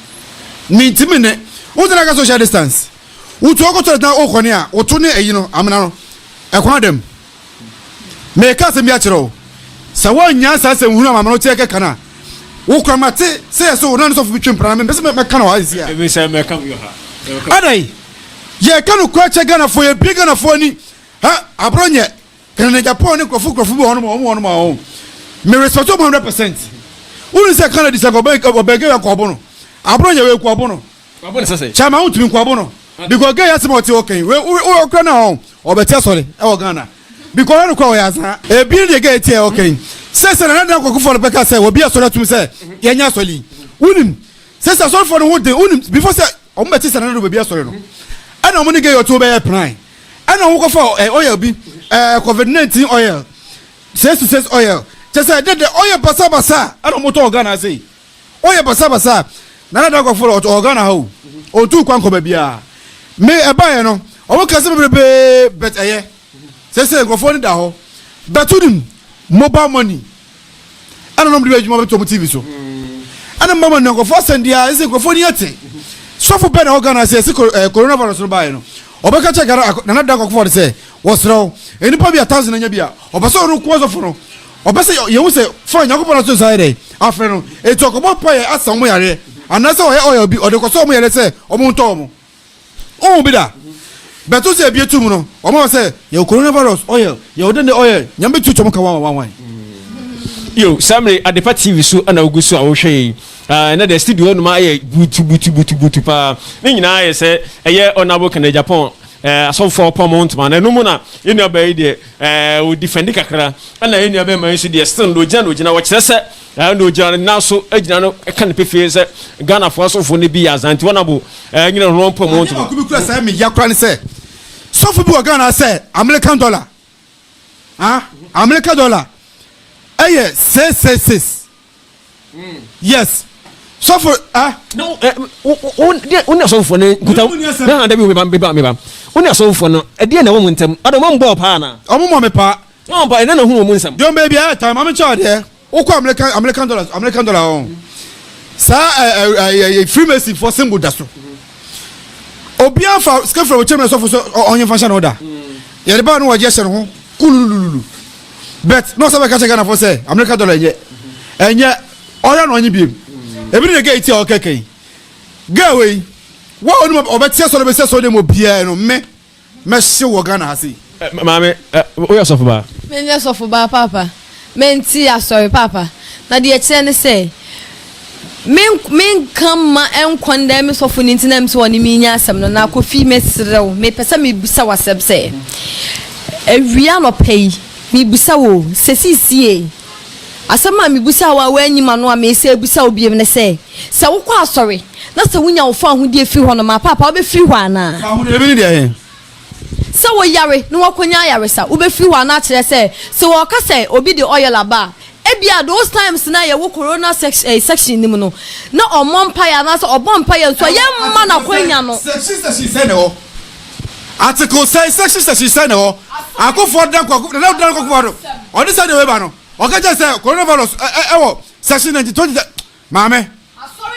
Mintimi ne. Wo tena ka social distance. Wo tu ɔkɔ toilet na o kɔne a, wo to ne ayi no, amena no. Ɛkwan da mu. Me ka asɛm bi akyerɛ wo. Sɛ wo annya saa asɛm hunu a maame no te ɛkɛ ka no a, wo kura ma te sɛ yɛ sɛ wo na ne sɔfo bi twe mpena na me mpɛ sɛ me ka no wɔ ha sisi a. Ɛmi sɛ me ka mi ha. Adai, yɛ ka no kura kyɛ Ghana fo, yɛ bie Ghana fo ani. Ha, abro nyɛ. Canada pɔn ne nkurɔfo nkurɔfo bi wɔ hɔnom a wɔn wɔnom a wɔn me respect wɔn hundred percent wuli sɛ Canada sɛ ɔbɛn ɔbɛn gay akɔ ɔbo no abono yɛ wɔ ekɔ ɔbo no kyɛn maa ntumi nkɔ ɔbo no because gay asɛm a ɔte hɔ kɛn wɔ wɔ ɔkura na wɔn ɔbɛte asɔre ɛwɔ Ghana because ɔyɛ no kɔ ɔyɛ azan ebi ne deɛ gay te ɛwɔ kɛn sɛ sɛ nana dan kɔkɔ fɔlɔ bɛka sɛ wɔ bi asɔre atum sɛ yɛnyɛ asɔre yi wunim sɛ sɛ asɔre fɔlɔ no ho den wunim before sɛ Wɔbɛte sɛ Nana Baabi asɔre no, ɛna wɔn ne Gayɔ tuo bɛyɛ pran, ɛna wɔkɔfa ɛɛ oil bi, ɛɛ covid nineteen oil, sesi sesi oil, kyɛ sɛ dɛdɛ oil basabasa ɛna wɔtɔ wɔ Ghana ase yi, oil basabasa, Nana Dankwafoɔ ɔtɔ wɔ Ghana ha o, ɔntu kwan nkɔ baabiara, me ɛbaeɛ no wɔn kɛse bebrebe but ɛyɛ, sɛsɛ nkorɔfoɔ ani da hɔ, bɛto nim, mobile money. ɛna nom de bɛ adwuma bɛtɔ mu tv so ɛna mma ma nnuankɔfo asɛm di a ɛsɛ nkurɔfoɔ ni ate sɔfo bɛn na ɛwɔ ghana sɛ ɛsi eh, coronavirus no baeɛ no ɔbɛka kyɛ ghana nana da akɔkɔfo de sɛ wɔserɛ wo nnipa bi a thousand anya bi a ɔpɛ sɛ ɔno kɔɔ sɔfo no ɔpɛ sɛ yɛhu sɛ fa nyankopɔn no so nsa yɛ dɛ afrɛ no ɛti ɔkɔbɔ mpa yɛ asa wɔn yareɛ anaasɛ ɔyɛ ɔyɛ obi ɔde kɔsɔ wɔn yareɛ sɛ wɔn ntɔ wɔn Wohu bi da? Bɛto sɛ ebie to mu no, wɔn a sɛ yɛwɔ coronavirus oil, yɛwɔ dɛndɛ oil, nyame bɛtu twam ka wɔn wɔn wɔn. Yo, saa mmerɛ Adepa TV so na wogu so a wohwɛ yɛn. Ah, na deɛ studio hɔnom ayɛ butu butu butu butu paa. Ne nyinaa ayɛ sɛ ɛyɛ Honourable Kenneth Agyapong eh, asɔfoɔ pɔn mo ntoma no. Ɛno mu na yɛn nua baa yi deɛ eh, ɔdifɛndi kakra. Ɛna yɛn nua bɛrima yi nso deɛ still no ɔgyina na ɔgyina wɔkyerɛ sɛ Ɛɛ na ogyina ne nan so gyina no ka no pefee sɛ Ghanafoɔ asɔfoɔ no bi yɛ azaa nti wɔn abo ɛɛ nyina no wɔn mpɔ mu wɔn ntoma. Adeɛ baako bi kura saa mi ya kura ne sɛ sɔfo bi wɔ Ghana ha sɛ American dollar ah American dollar ɛyɛ six six six yes sɔfo ah. Na wo ɛɛ wo wo wo ne asɔfoɔ no nkuta wo na na dabi wo meba meba meba wo ne asɔfoɔ no ɛdeɛ na wɔn mu ntɛm ɔdɔ wɔn bɔɔ paa na. Wɔn mɔ me paa Ɔɔ mpae na na hu wɔn mu nsɛm. Dwom bɛ biara tan. Maame kyɛ adeɛ. Wokɔ American American dollars American dollar hɔ no saa ɛ ɛ ɛ ɛ freemason fo symbol da so obiara fa sika fira wɔkyɛm na sɔfo so ɔnye fa hyɛ no da yɛde baa no wɔgye hyɛ no ho kululululu bet na ɔsɛ bɛka kyɛ Ghana fo sɛ American dollar ɛnyɛ ɛnyɛ ɔyɛ na ɔnye biem ebi ne ne gay ti a ɔkɛkɛ yi gay wei wa ɔnum ɔbɛteɛ sɔre bɛsɛ sɔre dɛm obiara no mme Mɛhye wɔ Ghana ha sei. Maame, woyɛ sɔfobaa? Menyɛ sɔfobaa, Paapa. Mente asɔre, Paapa. Na deɛ ɛkyerɛ ne sɛ, me, menka mma ɛnkɔndɛn me sɔfo no nti na ɛm sɛ ɔne me nya asɛm no. Na Kofi, mesrɛ wo, mepɛ sɛ mebisa wo asɛm sɛ, awia anɔpa yi, mebisa wo, sɛ seesei, Asɛm a mibisaa wo a woanyi m'ano a meresan abisa wo bio ne sɛ, sɛ wokɔ asɔre na sɛ wunya wo fawohodie firi hɔ no, maapaapa, wobɛfiri hɔ anaa? Fawohodie bi ne deɛ he? Sɛ woyare na woakɔnya ayaresa, wobɛfiri hɔ anaa? Kyerɛ sɛ, sɛ wɔka sɛ obi de oil aba a, ebia those times no a yɛwɔ corona section no mu no, na ɔmmɔ mpaeɛ anaasɛ ɔbɔ mpaeɛ nso a, yɛmma no akwanya no. Section section sɛn na ɛwɔ? Article sɛn, section section sɛn na ɛwɔ akofoɔ dan kɔ nana dan kɔ kofoɔ do ɔde sɛ deɛ weba no ɔka kyɛ sɛ coronavirus ɛwɔ section ninety twenty sɛ maame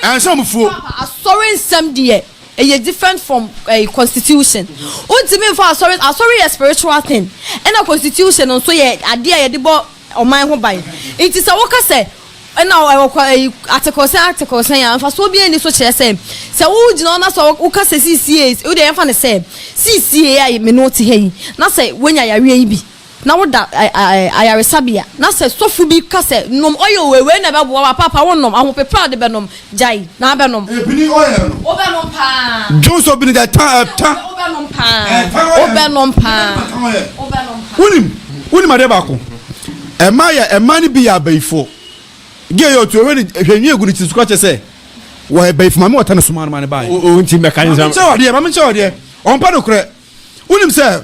ɛnhyɛ ɔmo fuo. Asɔre nsɛm deɛ ɛyɛ different from ɛɛ constitution wontumi nfa asɔre asɔre yɛ spiritual thing ɛna constitution nso yɛ adeɛ a yɛde bɔ. ɔman ho ban. Enti sɛ woka sɛ na ɛwɔ kwa ɛyi atekorosɛn atekorosɛn a mfasoɔ biara nni so kyerɛ sɛ sɛ wogyina hɔ na sɛ woka sɛ siisie wo deɛ yɛmfa no sɛ siisie a me ne wo te ha yi na sɛ woanya yareɛ yi bi na woda ayaresabea na sɛ sɔfo bi ka sɛ nom oil wei wei na ɛbɛboa wo a paapa wonnom ahopeprɛ a wode bɛnom Gyae na abɛnom. Ebini ɔyɛ no. Wobɛnom paa. Dwon sɔ bini gyae ta ta. Wobɛnom paa. Wobɛnom paa. Wobɛnom paa. Wonim wonim adeɛ baako ɛma yɛ ɛma no bi yɛ abayifoɔ gye yɛ otu ehwɛ ne ehwɛ nwi egu ne ti so kora kyɛ sɛ wɔ abayifo maame wɔta ne soma no ma ne ba yɛ. O nti mbɛka ne nsɛm. Maame nkyɛn wɔ adeɛ maame nkyɛn wɔ adeɛ ɔmpa no korɛ wonim sɛ.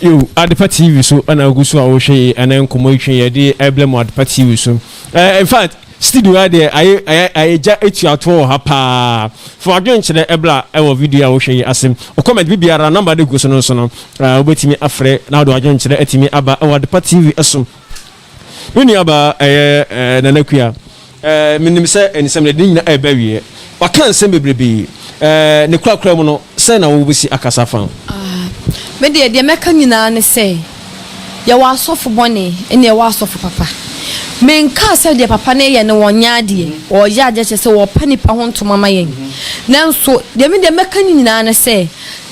Yo, Adepa TV so na ogu so a wohwɛ yi ɛnɛ nkɔmmɔ yi twe yɛde ɛblɛ mu Adepa TV so. Eh, in fact, studio ha deɛ ayɛ ayɛ ayɛ gya atuatoɔ wɔ ha paa. Fa wadwene kyerɛ ɛbla ɛwɔ video a wohwɛ yi ase. Ɔkɔmɛnt bi biara nɔmba de gu so no so no, eh, wobɛtumi afrɛ na wode wadwene kyerɛ atumi aba ɛwɔ Adepa TV so. Me nuabaa, ɛyɛ Nana Kua. Menim sɛ nsɛm de, ne nyinaa reba awieɛ. Waka nsɛm bebrebe. Ne korakora mu no, sɛn na wobɛsi akasa afa? Me deɛ, deɛ mɛka nyinaa ne sɛ, yɛwɔ asɔfo bɔne ɛna yɛwɔ asɔfo papa. Menkaa sɛ deɛ papa no yɛ no wɔnyɛ adeɛ, wɔyɛ adeɛ kyerɛ sɛ wɔpa nnipa ho ntoma ma yɛn. Nanso deɛ me deɛ mɛka ne nyinaa ne sɛ,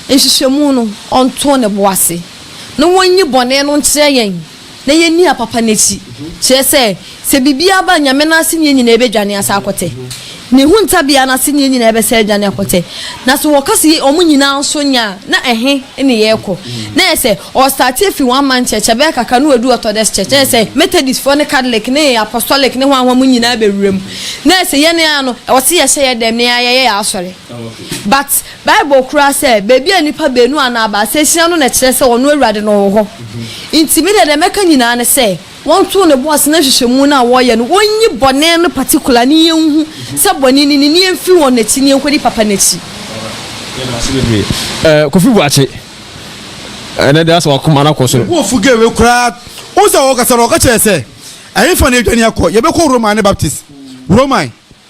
nhwehwɛmu no, ɔnto ne bo ase na wɔnyi bɔne no nkyerɛ yɛn. na yɛnni apapa no akyi, kyerɛ sɛ, sɛ biribiara ba a, Nyame no asenniɛ nyinaa bɛdwane asan akɔtɛ. Ne ho ntabea no asenniɛ nyinaa bɛsan adwane akɔtɛ. Na sɛ wɔka sɛ yei wɔn nyinaa nso nyɛ a, na ɛhe ne yɛrekɔ? Na ɛyɛ sɛ, ɔrestarte afi One Man Church, ɛbɛyɛ kakra na wadu Orthodox Church, na ɛyɛ sɛ, Methodistfoɔ ne Catholic ne Apostolic ne hwan hwan mu nyinaa bɛwura mu. Na ɛyɛ sɛ, yɛn ara no, ɛwɔ sɛ yɛhyɛ yɛn dɛm na yɛayɛ yɛn asɔre. But. Bible kora sɛ, baabi a nnipa baanu anaa baasa ahyia no na ɛkyerɛ sɛ ɔno Awurade no wɔ hɔ. Enti me deɛ, deɛ mɛka nyinaa ne sɛ, wɔnto no bo ase na nhwehwɛmu no a wɔreyɛ no, wɔnyi bɔne no particular ne yɛnhu sɛ bɔne no ni na yɛmfiri wɔn akyi na yɛnkɔdi papa no akyi. Kofi Boakye, ɛnɛ deɛ asɛ wakoma no akɔ soro. Me bo afu gay wei koraa. Wohu sɛ ɔkasa no ɔka kyerɛ yɛ sɛ ɛhefa na yɛdwane akɔ? Yɛbɛkɔ Roman ne Baptist. Roman.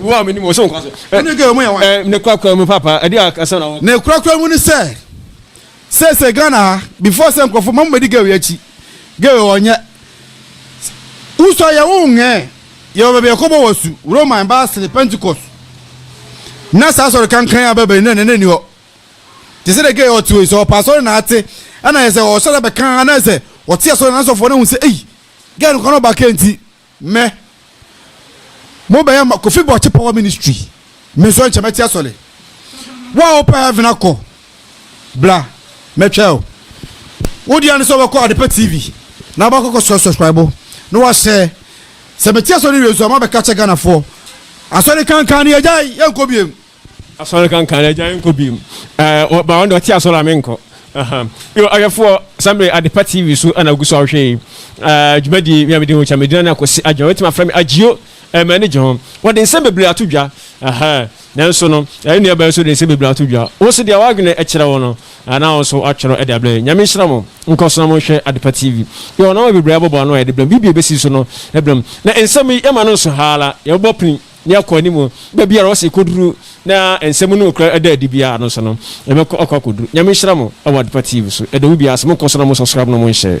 Wo a menim wo so nkwa so. Wone gay mu yɛ wan? Ne korakora mu papa ɛde akasa na wɔ. Ne korakora mu ne sɛ sɛsɛ Ghana ha before sɛ nkurɔfo ma mo bɛdi gay akyi gay ɔnyɛ wosɔ yɛ wo nhɛɛ yɛwɔ baabi yɛkɔbɔ wɔ su Roman baasere Pentecost na saa sɔre kankan a bɛbɛn na nana ni hɔ te sɛ dɛ gay ɔte wɔ yi sɛ ɔpa sɔre na ate ɛna yɛ sɛ ɔsɔre bɛka anaasɛ ɔte asɔre na asɔfoɔ no hu sɛ ei gay no kɔ no ɔba kɛnti Mɛ mo bɛyɛ ma kofi bɔ kye power ministry me nso nkyɛ mɛte asɔle wo a wopɛ heaven akɔ bra mɛtwɛ o wo deɛ ne sɛ wobɛkɔ adepa tv na wobɛkɔkɔ sɔ subscribe na wahyɛ sɛ mete asɔre wie nso a mabɛka kyɛ ghanafoɔ asɔre kankan ne agyae yɛnkɔ biem Asɔre kankan na agya nkɔ bi mu. Ɛɛ ba wɔn de ɔte asɔre a me nkɔ. Aha. Yo ɔhwɛfoɔ sɛmre adepa TV so ɛna ogu so ɔhwɛ yi. Ɛɛ dwumadie mi a mede ho kyɛ medina ne akwasi adwuma wetumi afrɛ me agyio ɛɛ m'ani gye ho. Wɔde nsɛm bebree ato dwa. Aha. Nanso no ɛɛ nua bɛn nso de nsɛm bebree ato dwa. Wo nso deɛ w'adwene ɛkyerɛ wo no ɛna wo nso atwerɛ ɛde abrɛ yɛn. Nyame nhyira mo. Nkɔ so na mo nhwɛ adepa TV. Yɛ wɔ nɔma bebree abɔbɔ ano a yɛde brɛ mo. Biribi a ɛbɛsi so no ɛbrɛ mo. Na nsɛm yi yɛma no nso haa la yɛbɛbɔ pini ne akɔ anim. Baabi a ɔse kɔduru na nsɛm no nokora da adi biara no nso no, yɛbɛkɔ akɔ akɔduru. Nyame nhyira mo wɔ Adepa TV so. Yɛdɔ mo biara sɛ monkɔ so na mo subscribe na mo share.